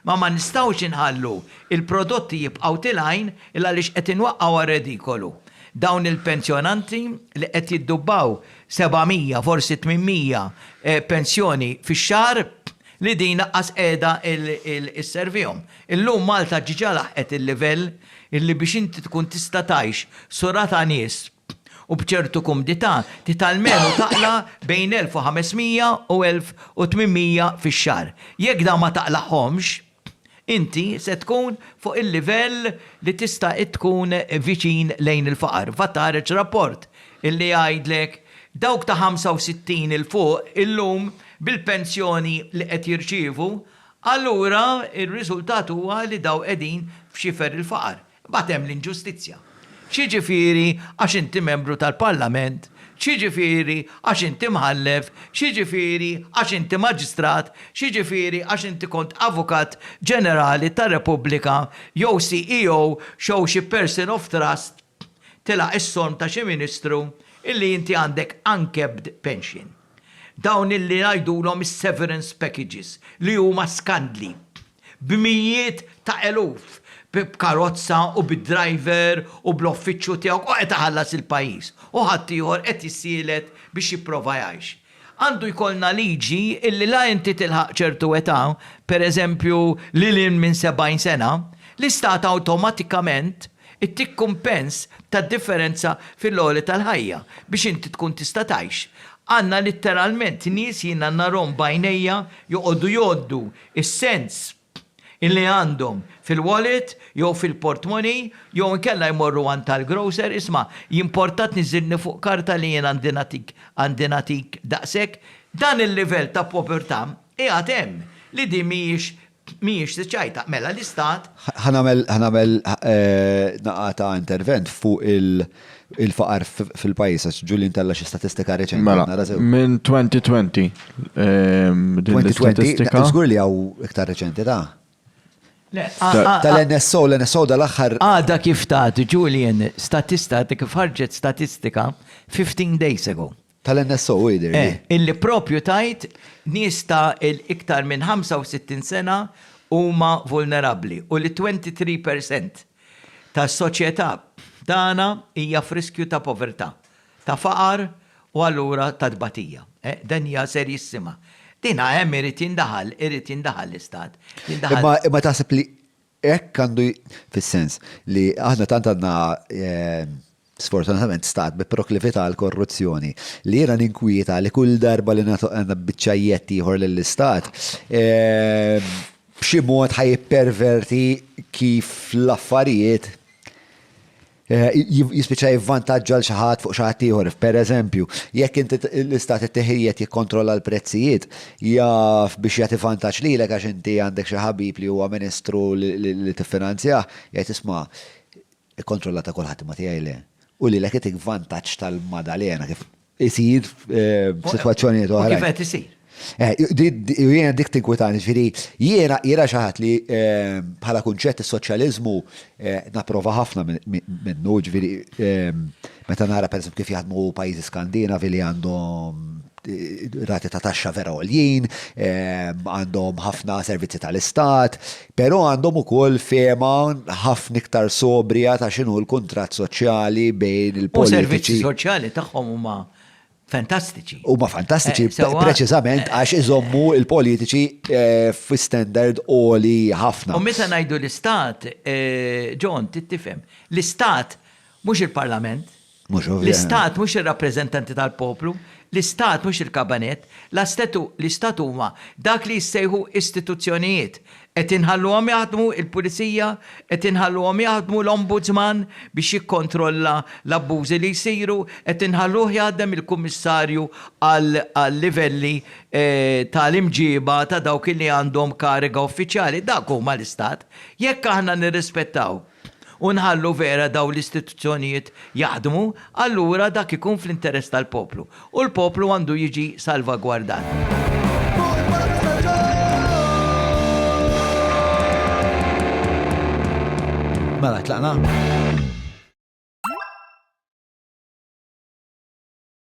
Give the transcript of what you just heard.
Ma ma nistgħux inħallu il-prodotti jibqgħu til għajn il għaliex qed inwaqqgħu għar-redikolu dawn il-pensjonanti li qed jiddubbaw 700 forsi 800 pensjoni fix-xahar li din laqqas qiegħda isservihom. Illum Malta ġġa laħqet il-livell illi biex inti tkun tista' tgħix su ra ta' nies, u b'ċertu kumdità tgħid almenu taqla' bejn 1,500 u 1,800 fix-xahar. Jekk dawn ma taqlagħhomx, inti se tkun fuq il-livell li tista' tkun viċin lejn il-faqar. VAT ħareġ rapport li jgħidlek dawk ta' 65 'il fuq illum bil-pensjoni li qed jirċievu, allura r-riżultat huwa li dawn qegħdin f'xifer il-faqar. Imbagħad hemm l-inġustizzja. X'jiġifieri għax inti membru tal-Parlament, x'jiġifieri għax inti mħallef, x'jiġifieri għax inti maġistrat, x'jiġifieri għax inti kont Avukat Ġenerali tar-Repubblika jew CEO xew xi person of trust tilaq is-sonm ta' xi Ministru illi inti għandek uncapped pension. Dawn illi ngħidulhom is-severance packages li huma skandli. b'mijiet ta' eluf, b'karozza u bid-driver u bl-offiċċju tiegħu u qed iħallas il-pajjiż, u ħaddieħor qed jissielet biex jipprova jgħix. Għandu jkollna liġi illi la inti tilħaq ċertu età, pereżempju lil hinn minn 70 sena, l-istat awtomatikament ittik kumpens tad-differenza fil-għoli tal-ħajja biex inti tkun tista' tgħix. Għandna litteralment nies jiena narhom b'għajnejja joqogħdu jgħoddu is-sens illi għandhom fil-wallet jew fil-portmoney jew inkella jmorru għand tal-grocer, isma' jimporta tniżżilni fuq karta li jien għandi nagħtik għandi nagħtik daqshekk? Dan il-livell ta' povertà qiegħed hemm li din mhijiex mhijiex siċajta. Mela l-istat. Ħa nagħmel ħa nagħmel naqata intervent fuq il. il-faqar fil-pajis, għax Julian tella xi statistika reċenti. Mela, minn 2020. 2020, ehm, żgur li għaw iktar reċenti ta' Tal-NSO, l-NSO dal-axħar. Għada kif ta' Julian, statista, kif ħarġet statistika 15 days ago. Tal-NSO hu jidher li. Eh, illi proprju tgħid nies ta' iktar minn 65 sena huma vulnerabbli u li 23 per cent tas-soċjetà tagħna hija f'riskju ta' povertà, ta' faqar u allura ta' tbatija. Eh, dan hija serjissima. Din hemm irid jindaħal, irid jindaħal l-Istat. Jindaħal. Imma taħseb li Hekk għandu fis-sens li aħna tant għandna sfortunatament stat bi proklività għall-korruzzjoni li jiena ninkwieta li kull darba li nagħtu biċċajjett ieħor lill-istat b'xi mod ħa jipperverti kif l-affarijiet Eh, jispiċċa jivvantaġġa l xaħat fuq xaħat ieħor. Per eżempju, jekk inti l-istat it-teħijiet jikkontrolla l-prezzijiet, jaf biex jagħti vantaġġ lilek għax inti għandek xi ħabib li huwa ministru li tiffinanzjah, jgħid isma' ikkontrolla ta' kulħadd ma tiegħi le. U lilek itik vantaġġ tal-madalena kif isir f'sitwazzjonijiet oħra. Kif qed isir? Eh, jiena dik tinkwitani, ġifieri jiena jiena xi ħadd li eh, bħala kunċett is-soċjaliżmu eh, napprova ħafna minnu, ġifieri meta nara pereżempju kif jaħdmu pajjiżi Skandinavi li għandhom rati ta' taxxa vera għoljien, għandhom ħafna servizzi tal-istat, Però għandhom ukoll fehma ħafna iktar sobrija ta' x'inhu l-kuntratt soċjali bejn il-politiċi. U servizzi soċjali tagħhom huma fantastiċi. Huma fantastiċi preċiżament għax iżommu l-politiċi fi standard għoli ħafna. U meta ngħidu l-istat, John, trid tifhem, l-istat mhux il-parlament, L-Istat mhux ir-rappreżentanti tal-poplu, l-Istat mhux il-Kabanett, l-Istat huma dak li jissejħu istituzzjonijiet. Qed inħalluhom jaħdmu l-Pulizija, qed inħalluhom jaħdmu l-Ombudsman biex jikkontrolla l-abbużi li jsiru, qed inħalluh jaħdem il-Kummissarju għal-livelli tal-imġiba ta' dawk li għandhom kariga uffiċjali. Dak huma l-Istat. Jekk aħna nirrispettaw. u nħallu vera dawn l-istituzzjonijiet jaħdmu, allura dak ikun fl-interess tal-poplu, u l-poplu għandu jiġi salvagwardat. Mela, tlaqna?